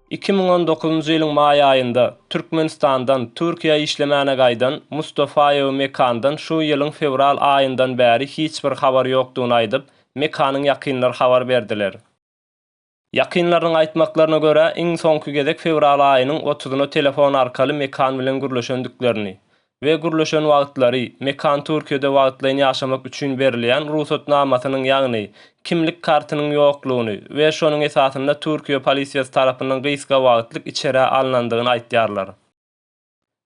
Iki müň on dokuzynjy ýylyň maý aýynda Türkmenistandan Türkiýä işlemäne gaýdan Mustafaýewi Mekandan şu ýylyň fewral aýyndan bäri hiç bir habar ýokdugyny aýdyp, Mekanyň ýakynlary habar berdiler. Ýakynlarynyň aýtmaklaryna görä, iň soňky gezek fewral aýynyň otuzyna telefon arkaly Mekan bilen gürleşendiklerini we gürleşen wagtlary, Mekan Türkiýede wagtlaýyn ýaşamak üçin berilýän rugsatnamasynyň, ýagny kimlik kartynyň ýoklugyny we şonuň esasynda Türkiýe polisiýasy tarapyndan gysga wagtlyk içerä alnandygyny aýtýarlar.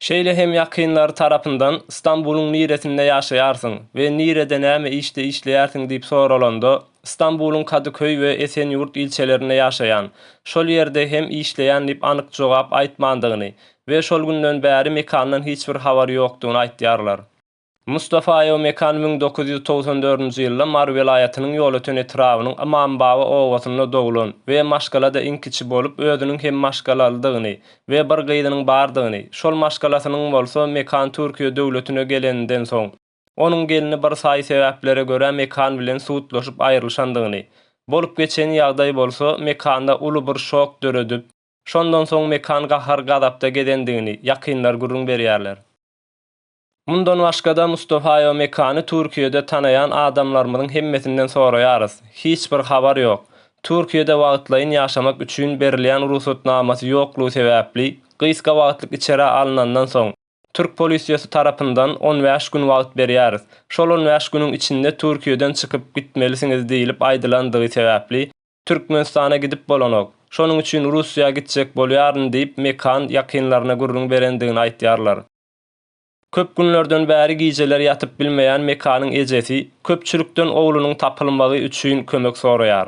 Şeýle hem ýakynlary tarapyndan Stambulyň niresinde ýaşaýarsyň we nirede näme işde işleýärsiň diýip soralanda, Stambulyň Kadyköý we Esenýurt ilçelerinde ýaşaýan, şol ýerde hem işleýän diýip anyk jogap aýtmandygyny we şol günden bäri mekandan hiç bir habary ýokdugyny aýtýarlar. Mustafaýew Mekan müň dokuz ýüz togsan dördünji ýylda Mary welaýatynyň Ýolöten etrabynyň Ymambaba obasynda doglan we maşgala-da iň kiçi bolup, özüniň hem maşgalalydygyny we bir gyzynyň bardygyny, şol maşgalasynyň bolsa Mekan Türkiýe döwletine geleninden soň, onuň gelni bir saýy sebäplere görä Mekan bilen sudlaşyp aýrylyşandygyny, bolup geçen ýagdaý bolsa Mekanda uly bir şok döredip, şondan soň Mekan gahar-gazapda gezendigini ýakynlar gürrüň berýärler. Mundan başga-da Mustafaýewa Mekany Türkiýede tanaýan adamlarymyzyň hemmesinden soraýarys, hiç bir habar ýok. Türkiýede wagtlaýyn ýaşamak üçin berilýän rugsatnamasy ýoklugy sebäpli, gysga wagtlyk içerä alnandan soň, türk polisiýasy tarapyndan on bäş gün wagt berýäris. Şol on bäş günüň içinde Türkiýeden çykyp gitmelisiňiz diýlip aýdylandygy sebäpli, Türkmenistana gidip bolanok. Şonuň üçin Russiýa gitjek bolýaryn diýip Mekan ýakynlaryna gürrüň berendigini aýtýarlar. Köp günlerden bäri gijeler ýatyp bilmeýän Mekanyň ejesi köpçülikden oglunyň tapylmagy üçin kömek soraýar.